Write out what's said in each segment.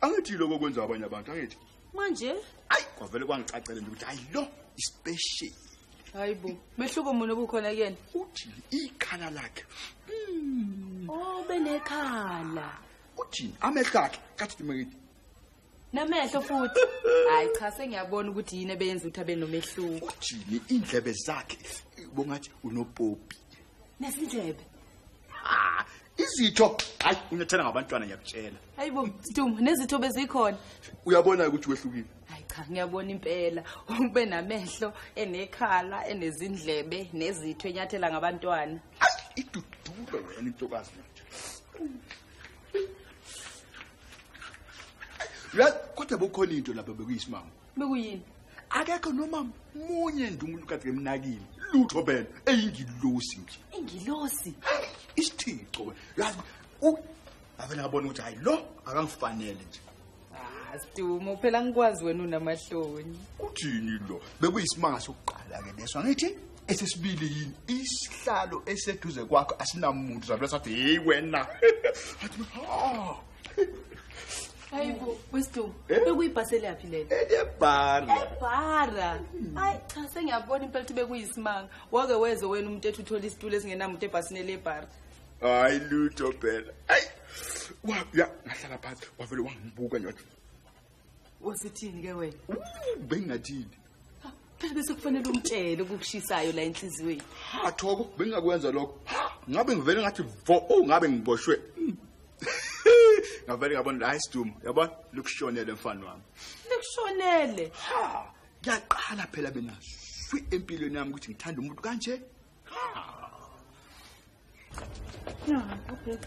angithi lokho okwenza abanye abantu angithi manje ayi kwavele kwangicacele nje ukuthi hayi lo ispecial hayi bo mehluko muni obukhona kuyena uthini ikhala lakhe hmm. oh benekhala uthini amehlo akhe kathi dimekithi namehlo futhi hayi cha sengiyabona ukuthi yini ebeyenza ukuthi abe nomehluko uthini indlebe zakhe bongathi unopopi nesindlebe Ah, izitho hayi unethela ngabantwana ngiyakutshela hayi bo mdumo nezitho bezikhona uyabona ukuthi wehlukile hayi cha ngiyabona impela ube namehlo enekhala enezindlebe nezitho enyathela ngabantwana idudulo wena intokazi manje uyazi kodwa bukhona into lapha bekuyisimanga bekuyini akekho noma munye nje umuntu kade emnakile lutho bela eyingilosi nje ingilosi isithixo yazi avele abona ukuthi hayi lo akangifanele nje ah, Stumo phela ngikwazi wena unamahloni. Uthini lo? Bekuyisimanga sokuqala ke leso ngithi esesibili yini isihlalo eseduze kwakho asinamuntu zabe sathi hey wena. Athi ha. hayi bo wesidumo Eh? bekuyibhasi eliyaphi lelo ebhara ebhara hayi cha sengiyabona impela ukuthi bekuyisimanga wake weze wena umuntu ethi uthole isitulo esingenamuntu ebhasini elebhara hayi lutho phela ayi wabuya ngahlala phansi wavele wangibuka nje wathi wasithini ke wena bengingathini phela bese kufanele umtshele ukukushisayo la enhliziyweni ha thoko bengingakwenza lokho ngabe ngivele ngathi vo oh ngabe ngiboshwe ngavele ngabona la isidumo yabona likushonele mfana wami likushonele ha kuyaqala phela mina swi empilweni yami ukuthi ngithanda umuntu kanje No, okay.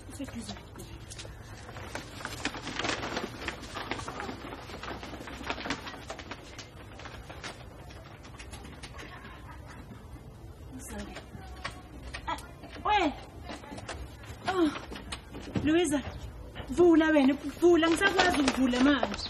It's like this. Luiza, vula wena, vula ngisakwazi ukuvula manje.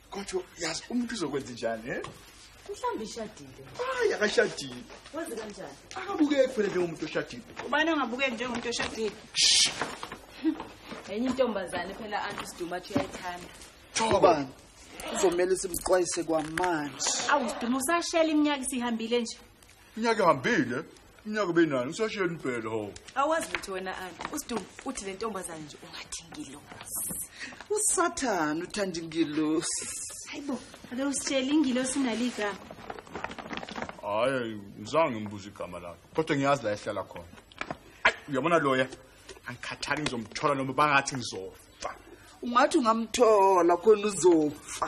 kodwa yazi umuntu uzokwenza njani he mhlawumbe ishadile hayi akashadile wenze kanjani akabukeki kufanele njengomuntu oshadile ubani ongabukeki njengomuntu oshadile enye intombazane phela anti siduma athi uyayithanda thobani kuzomele simxwayise kwamanje awu siduma usashela iminyaka isihambile nje Iminyaka ihambile. Iminyaka benani usashiyeni phela ho. Awazi ukuthi wena anti usidumbu uthi le ntombazane nje ungathi ngilosi. Usathana uthanda ingilosi. Hayibo, ake usitshele ingilosi naligama. Hayi, ngizange ngibuze igama lakhe. Kodwa ngiyazi la ehlala khona. Ayi, uyabona loya. Angikhathali ngizomthola noma bangathi ngizofa. Ungathi ungamthola khona uzofa.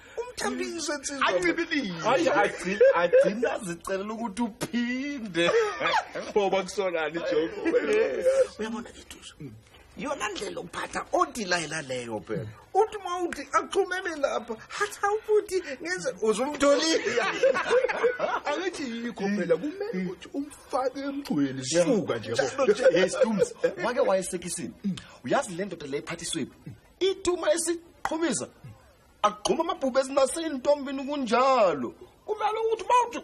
umthambise nsizwa ancibilise hayi agcina agcina azicelela ukuthi uphinde ngoba kusolani joke uyabona ituzo yona ndlela okuphatha odilayela leyo phela uthi uma uthi axhumele lapha hatha ukuthi ngenze uzumtholile angithi yikho phela kumele ukuthi umfake emgcweni suka nje hey stums wake wayesekisini uyazi le ndoda le iphathiswephi ituma esiqhumisa agxuma amabhubhe ezinaseyintombini kunjalo kumele ukuthi bawuthi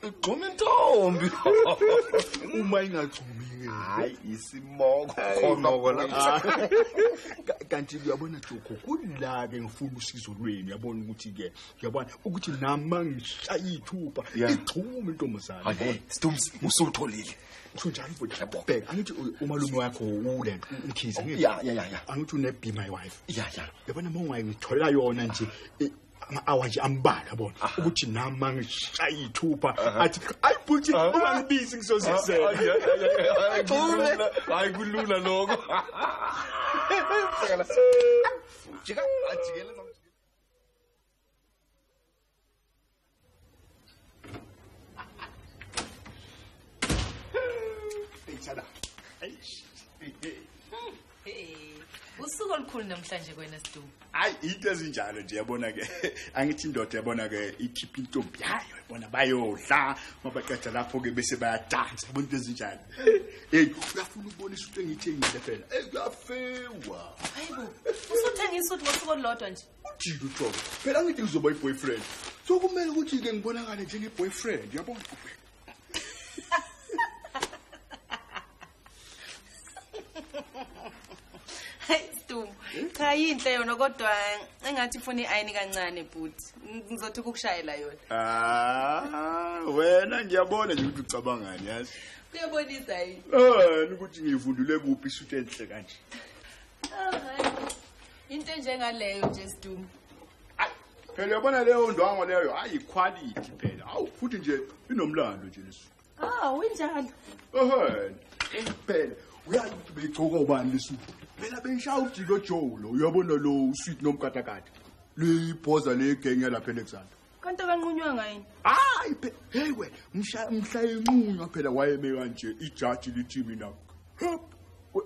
igxuma intombi uma ingagxumi ke hayi isimoko khonoko lapha kanti uyabona joko kula ke ngifuna usizo lweni uyabona ukuthi ke uyabona ukuthi nama ngishaya ithupha igxuma intombazane hayi stumsi usutholile Ngisho njalo bhuti. Bheka angithi umalume wakho ulento umkhize ngithi. Ya ya ya. Angithi une be my wife. Ya ya. Yabona uma ungayithola yona nje e, ama-hour nje ambalwa yabona ukuthi nami mangishaye iy'thupha athi ayi bhuti ungangibizi ngizozizela hayi kulula lokho jika ajikele usuku olukhulu namhlanje kwena sidu hayi into ezinjalo nje yabona ke angithi indoda yabona ke ikhipha intombi yayo yabona bayodla mabaqeda lapho ke bese bayadansa yabona into ezinjalo hey uyafuna ukubonisa into engiyithengile phela hey kuyafewa hayibo usuthengisa ukuthi ngosuku olulodwa nje ujike ujobe phela ngithi ngizoba i-boyfriend so kumele ukuthi-ke ngibonakale njenge-boyfriend yabona cha yinhle yona kodwa engathi funa i-ayini kancane bhuti ngizothi ukukushayela yona ah, wena ngiyabona nje ukuthi ucabangani yazi kuyabonisa yini ah, ukuthi ngiyivundule kuphi isuthi enhle kanje ah, into enjengaleyo nje sdum phela uyabona leyo ndwango leyo hayi quality phela awu futhi nje inomlando nje lesu ah winjalo ehhe phela uyazi ukuthi beyigcoka ubani lesu phela beyishaya ujiko joe lo uyabona lo usweet nomkatakade liyibhoza legenge lapha ealexander kanti akanqunywa ngayini hayi heyi wena mhla inqunywa phela wayeme kanje ijaji lithi mina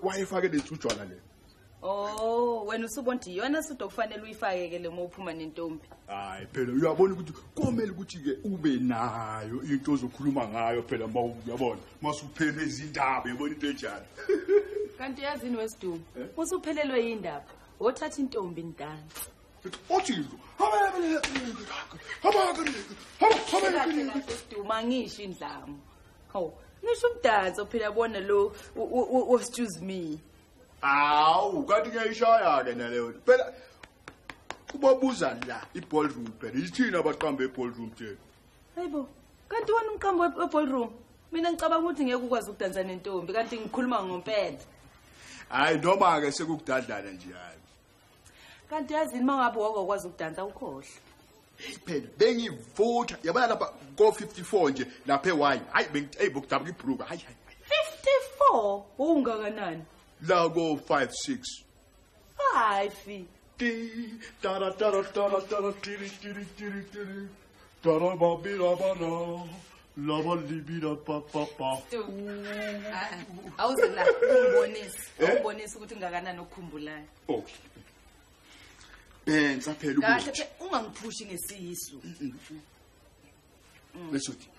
wayefake lethujwana le Oh, wena usubona ukuthi iyona sudo okufanele uyifake ke lema uphuma nentombi. Hayi phela uyabona ukuthi komele ukuthi ke ube nayo into ozokhuluma ngayo phela ma uyabona masuphele izindaba yabona into enjani. Kanti yazini wesiduma eh? usuphelelwe yindaba wothatha intombi ndansi. othini duma ngisho indlamu hawu nisho umdanso phela bona lo was choose me awu kanti ngiyayishaya-ke naleyo phela ubabuza la i-ballroom phela yithini abaqamba e-ballroom tena hayi bo kanti wena umqambo e-ballroom mina ngicabanga ukuthi ngeke ukwazi ukudansa nentombi kanti ngikhuluma ngompela hhayi noma-ke sekukudadlana nje hhayi kanti yazini uma ngabe wake wakwazi ukudansa ukhohle phela bengivutha yabona lapha ko-54 nje lapha ewayi hayi bengiceyi bokudabuka ibhruka hayi hayi 54 wawungakanani la ko-56 five ti tara tara tara tara tiri tiri tiri tiri awuze la ungibonise ungibonise ukuthi ngakanani okukhumbulayo okay benza phela ukuthi kahle ungangiphushi ngesiyisu lesho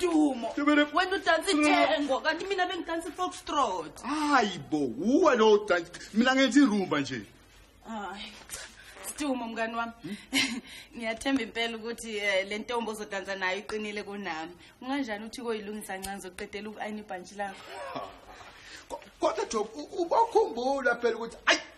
Dumo. Wena udansa ithengo kanti mina bengidansa ifoxtrot. Hayi bo, uwe lo udansa. Mina ngenza irumba nje. Hayi. Dumo mngani wami. Ngiyathemba impela ukuthi eh, le ntombi ozodansa nayo iqinile kunami. Unganjani uthi koyilungisa ncanzi uqedela uku-ayina ibhantshi lakho? Kodwa Job, u- ubakhumbula phela ukuthi ayi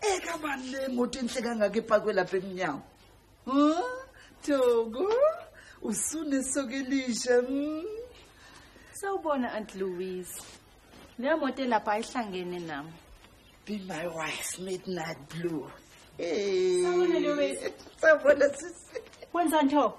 ekabani le moto enhle kangaka epakwe lapha emnyango huh? thoko usunesoka elisha mm. sawubona aunt louise leyo moto elapha ayihlangene nami be my wife midnight blue Hey. Sawubona Louise. Sawubona sisi. Wenza nto.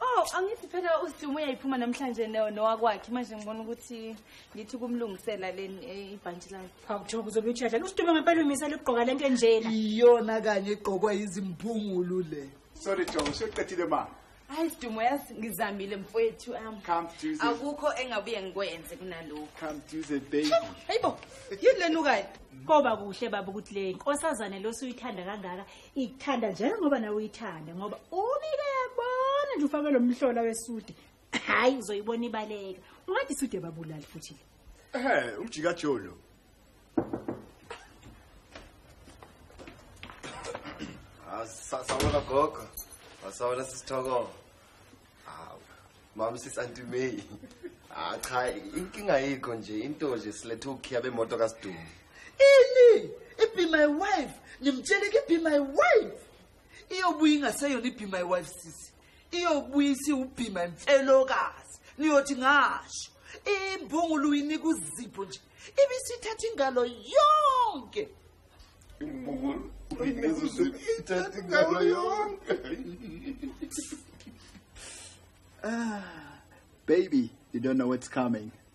Oh, angithi phela uSidumo uyayiphuma namhlanje no nowakwakhe manje ngibona ukuthi ngithi kumlungisela leni eh, ibhantshi lakhe. Hawu Job uzobe uthi yadlala usidube ngempela umisela ukugqoka lento enjena. Iyona kanye egqokwa izimphungulu le. Sorry Job, useqedile ma. Hayi Sidumo yazi ngizamile mfowethu am. Come Jesus. Akukho engabuye ngikwenze kunalokho. Come Jesus baby. Hayibo, yini lenukayo? Koba kuhle baba ukuthi le nkosazane losuyithanda kangaka ikuthanda njengoba nawe uyithanda ngoba ubike yabona nje ufake lo mhlola wesude hayi uzoyibona ibaleka ungathi sude babulali futhi le Eh, umjika Jolo. Ah, sa- sawona gogo. Ah, Sawona sisithoko. Ah, mama sis Auntie May. Ah, cha, inkinga yikho nje into nje silethe ukhiya bemoto kaSidumo. ini ibe my wife ngimtshele ke be my wife iyobuya ingaseyona ibe my wife sisi iyobuyisa iwubhima mfelokazi niyothi ngasho imbungulu uyinika uzipho nje ibisithatha ingalo yonke imbungulu uyinika uzipho ithatha ingalo yonke ah baby you don't know what's coming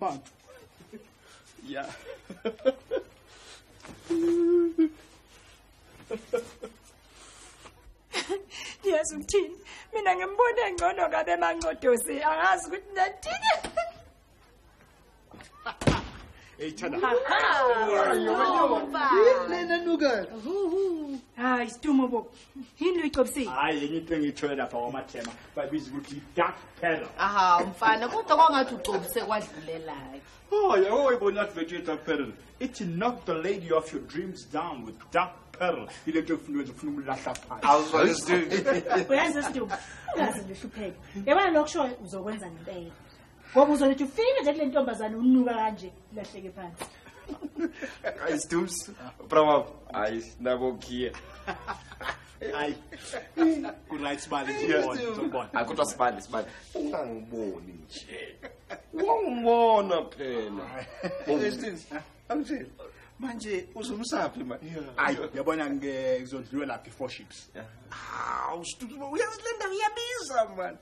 Bantu. Ya. Yes uthini? Mina ngimbona engcono kabe mancodosi angazi ukuthi nathini. Hey Thanda. Lena nuka. Hayi stumo bo. yini uyicobisile hayi yenye into engiyithole lapha kwamathema babiza ukuthi dark peril aha mfana kodwa kwangathi ugcobise kwadlulelayo oh yabo wayibona athi bethu dark peril ithi knock the lady off your dreams down with dark peril ile nto efuna wenza ufuna umlahla phansi uyenza isidumo ungaze lihlupheke yabona lokushoyo uzokwenza ngempela ngoba uzolethi ufike nje kule ntombazane unuka kanje lahleke phansi hayi stums bravo hayi nabo kia hayi kuright sibali ngibona hayi kodwa sibali sibali ungangiboni nje wangibona phela angitshela manje uzumsaphi manje hayi yabona ngizodliwe lapha i-four ships hawu uyazi le ndawo iyabiza mani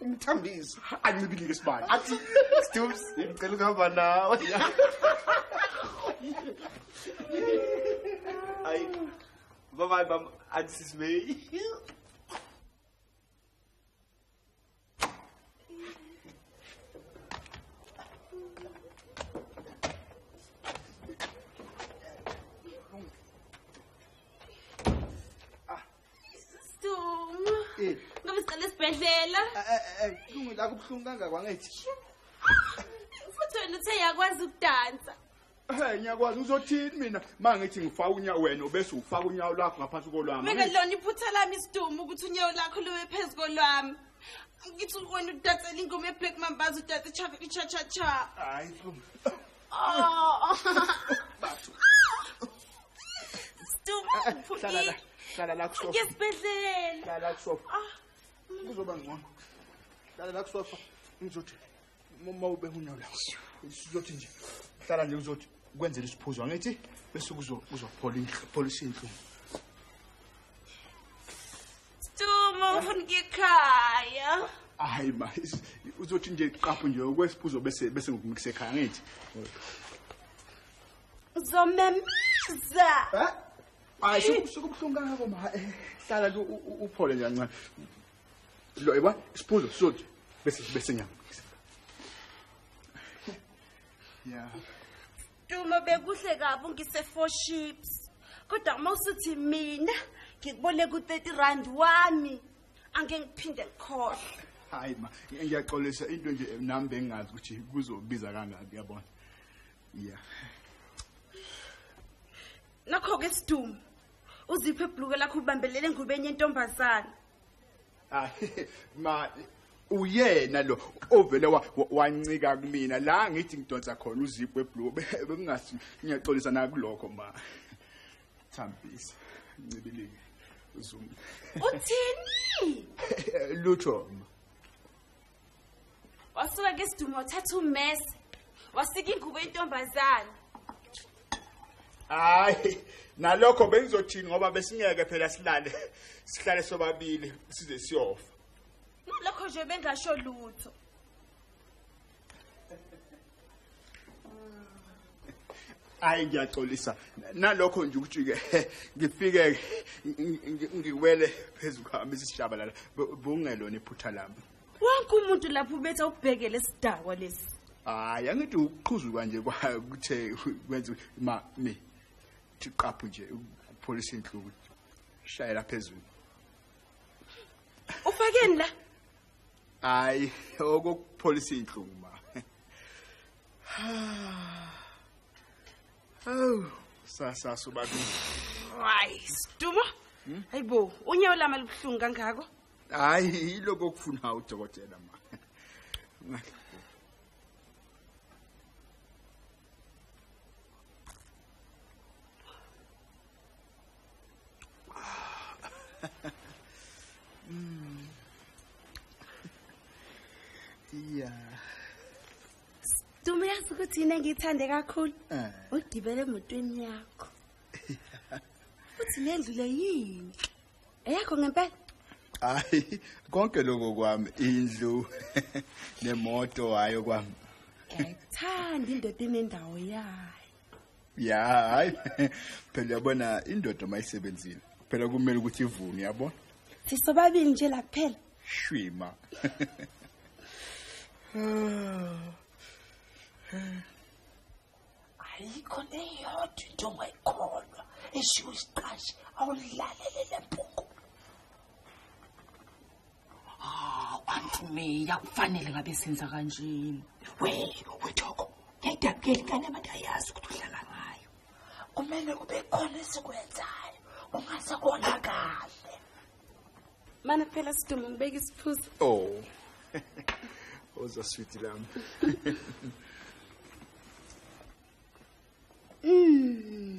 umthambiso ancibilike sibani athi stoops ngicela ukuhamba nawe ayi baba baba athi sisibey Stungu. Eh. Ngoba siqale esibhedlela. Eh, eh, eh, Stungu la kubuhlungu kangaka ngithi. Futhi wena uthe yakwazi ukudansa. Eh ngiyakwazi uzothini mina mangithi ngifaka unyawo wena bese ufaka unyawo lakho ngaphansi kolwami. Mina lona iphutha lami Stungu ukuthi unyawo lakho lube phezulu kolwami. Ngithi wena udatsela ingoma ye Black Mambazo udatsa cha cha cha. Hayi Stungu. hlala la kusofa yesibhedlela hlala la kusofa ah. kuzoba ngcono hlala la kusofa ngizothi uma ube unyawo lawo sizothi nje hlala nje uzothi kwenzela isiphuzo angithi bese kuzophola inhlupho pholisa inhlungu Stumo ufuna ngikhaya. Hayi ma, uzothi nje qapho nje okwesiphuzo bese bese ngikunikise ekhaya ngithi. Uzomemeza. Eh? Hayi sikubuhlungu kangako ma. Eh, hlala nje uphole nje kancane. Lo yebo, isiphuzo sothi bese bese ngiyakunikisa. Yeah. Duma bekuhle kabi ungise four ships. Kodwa uma usuthi mina ngikubole ku 30 rand wami angeke ngiphinde ngikhohle. Hayi ma ngiyaxolisa into nje nami bengazi ukuthi kuzobiza kangaki yabona. Yeah. Nakho ke siduma. Uziphe ibhluke lakho ubambelele ngubeni yentombazana. hayi ma uyena lo ovele wancika kumina la ngithi ngidonsa khona uzipo weblue bekungasi ngiyaxolisa nakulokho ma thambisa ncibilike uzum uthini lutho ma wasuka ke sidumo wathatha umese wasika ingubo yentombazane hayi nalokho bengizothini ngoba besingeke phela silale sihlale sobabili size siyofa nalokho nje bengasho lutho hayi ngiyaxolisa nalokho nje ukuthi ke ngifike ngiwele phezulu kwami isishabalala bungelona iphutha lami wonke umuntu lapho ubethe ukubhekele sidakwa lesi hayi angithi ukuqhuzuka nje kwakuthe kwenza ma mi thiqaphu nje upholisa inhluku shayela phezulu ufakeni la hayi okokupholisa iy'nhlungu ma hawu sasasa ubabili hayi sidumo hmm? hayi bo unyawo lami alubuhlungu kangako hayi yiloko okufuna udokotela ma ya Dumi yazi ukuthi yini engiyithande kakhulu Eh. ugibele emotweni yakho uthi le ndlu le yini eyakho ngempela hayi konke lokho kwami indlu nemoto hayo kwami ngiyayithanda indoda inendawo yayo ya hayi phela uyabona indoda uma isebenzile phela kumele ukuthi ivume yabona sisobabili nje la kuphela shwima ayikho neyodwa into ongayikholwa eshiwo isiqashi awulalele le mpungu hawu antimeya kufanele ngabe senza kanjeni we wethoko ngiyidabukeli kane abantu ayazi ukuthi uhlala ngayo kumele kube khona esikwenzayo ungase kona kahle mana phela sidumo ngibeka isiphuzo oh oza switi lami mm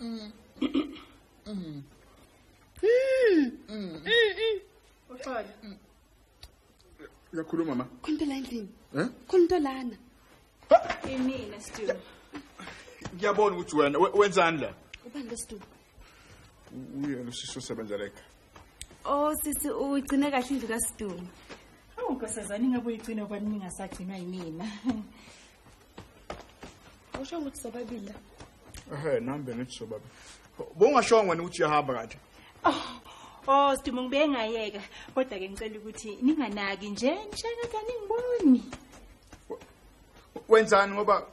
Mm. Mm. Mm. Uxola. Uyakhuluma mama. Khona endlini. Eh? Khona lana. Imina Stu. Ngiyabona ukuthi wena wenzani la? Ubani lo Stu? Uyena usisi osebenza leka. Oh sisi ugcine kahle indlu kaStu. Awu nkosazana ingabe uyigcina kwani ningasagcinwa yimina. awushongo ukuthi sobabili la ehe nami bengithi sobabili bongashongo wena ukuthi uyahamba kanti oh oh sidumo ngibe ngayeka kodwa ke ngicela ukuthi ninganaki nje ngishaka kaningiboni wenzani ngoba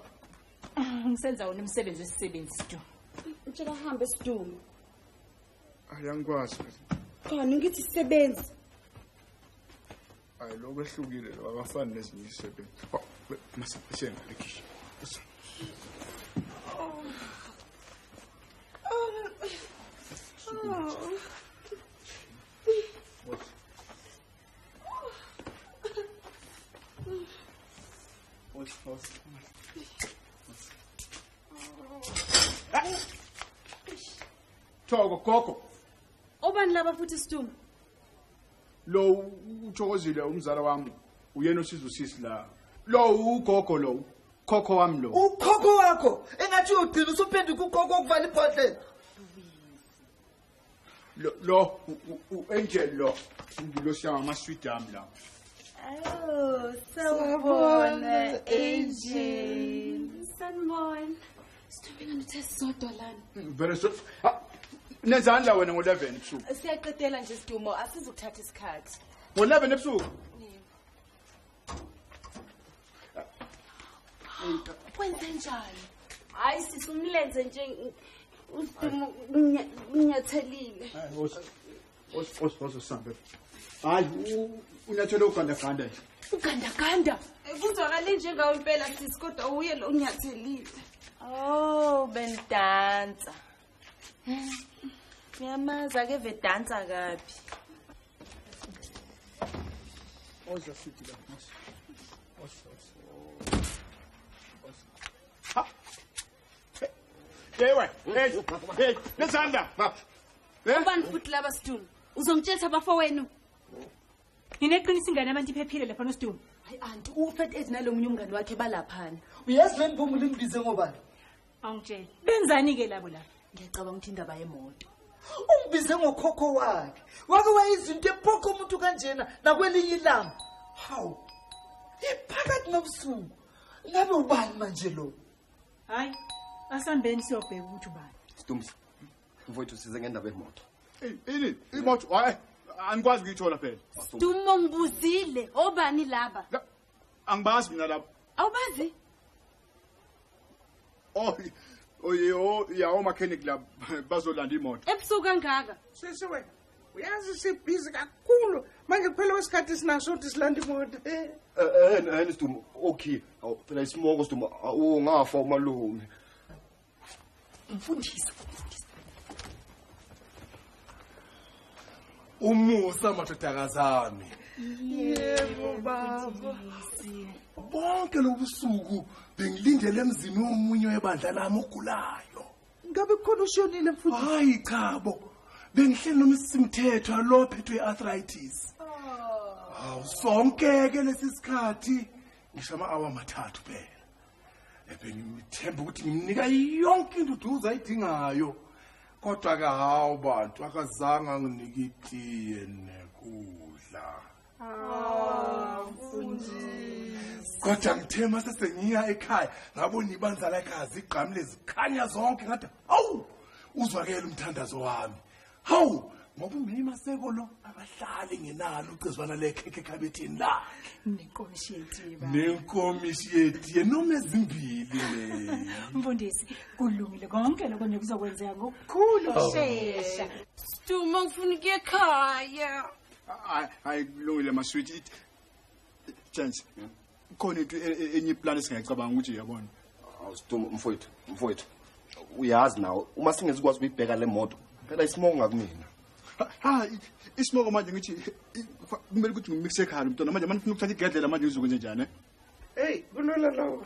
ah, ngisenza wona umsebenzi wesisebenzi sidumo utshela hambe sidumo ayangikwazi khona ngithi sisebenzi hayi lokho ehlukile lo akafani nezinye izisebenzi Oh, we- masa siyena lekhishi thoko gogo obani laba futhi situnga lo uthokozile umzala wami uyena osiza usisi la lo ugogo lo khokho wami lo ukhokho wakho engathi uyogcina usuphenduka ukhokho okuvala ibhodlela lo lo u- u- u-angel lo ngilosi yami amaswidi ami lawo Oh, sawubona, Angel. Sanibona. Sithombeka nithe sisodwa lana. Mm, very so. Ah, nezandla wena ngo-11 ebusuku. Siyaqedela nje sidumo asizukuthatha isikhathi. Ngo-11 ebusuku. Kwenze njani? Hayi sisumlenze nje usidumo unyathelile. ozosambe hayi unyathele ugandaganda nje ugandaganda kuzwakale njengawo impela sisi kodwa uye lo unyathelile oh bendansa ngiyamazi ake vedansa kabi oza futhi la oza oza Ewe, hey, hey, nesanda. Eh? Ubani futhi laba Sduma? Uzongitshela abafowenu. Ngineqiniso ingane abantu iphephile lapha noSduma. Hayi anti uFat Ed nalomunye umngane wakhe balaphana. Uyazi le mpumu limbize ngobani? Awungitshela. Benzani ke labo la? Ngiyacabanga ukuthi indaba yemoto. Ungibize ngokhokho wakhe. Wake wayizinto ephokho umuntu kanjena nakwelinye ilanga. Hawu. Iphakathi nobusuku. Ngabe ubani manje lo? hayi asambeni siyobheka ukuthi ubani stumsi mfowethu size ngendaba yemoto ini imoto hayi anikwazi ukuyithola phela stumo ngibuzile obani laba angibazi mina laba awubazi oh oyo yawo makhenik laba bazolanda imoto ebusuku kangaka sisi wena uyazi sibhizi kakhulu manje kuphela kwesikhathi sinaso ukuthi silanda imoto eh, eh, eh, eh sidumo okay awucela isimoko sidumo ungafa umalume mfundisi umusa madodakazi ami yebo baba bonke lobusuku bengilindele emzini womunye webandla lami ogulayo ngabe kukhona ushonile mfundisi hayi cha bo bengihleli noma isimthetho alo phethwe arthritis hawu sonke ke lesi sikhathi ngisho ama-awa amathathu phela ebengimthemba ukuthi ngimnika yonke into uduze ayidingayo kodwa-ke hawu bantu akazange anginike itiye nekudla kodwa ngithe uma sesengiya ekhaya ngabona ibandla lakhe azigqamile zikhanya zonke ngathi hawu uzwakele umthandazo wami hawu ngoba umyima seko lo abahlali ngenalo ucezwana lekhekhe ekhabethini lakhe nenkomishi yetiye baba nenkomishi yetiye noma ezimbili le mfundisi kulungile konke lokho nje kuzokwenzeka ngokukhulu ukushesha Duma ngifuna ukuya ekhaya. hayi kulungile masweet it chance khona into e- e- enye iplan esingayicabanga ukuthi yabona awusituma mfowethu mfowethu uyazi nawo uma singezikwazi ukuyibheka le moto phela isimoko ngakumina ha i- isimoko manje ngithi i- fa- kumele ukuthi ngimikise ekhaya lo mntwana manje manje ngifuna ukuthatha igedlela manje ngizokwenze njani eh? eyi kulula lawo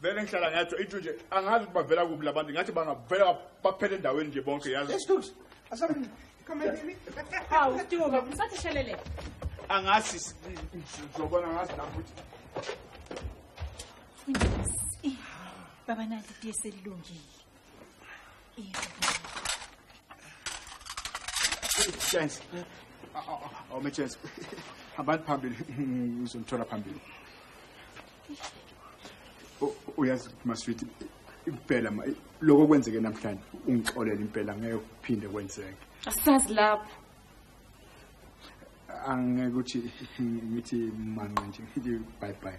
vele ngihlala ngiyatsho into nje angazi ukuthi bavela kuphi la bantu ngathi bangavela baphele endaweni nje bonke yazi hawu stuka msathi shelele angazi ngizobona ngazi lapho ukuthi baba nali tiye selilungile chance awume chance hambani phambili ngizonithola phambili uyazi maswiti impela ma lokho kwenzeke namhlanje ungixolela impela ngeke kuphinde kwenzeke asazi lapho angeke ukuthi ngithi manqa nje ngithi bye bye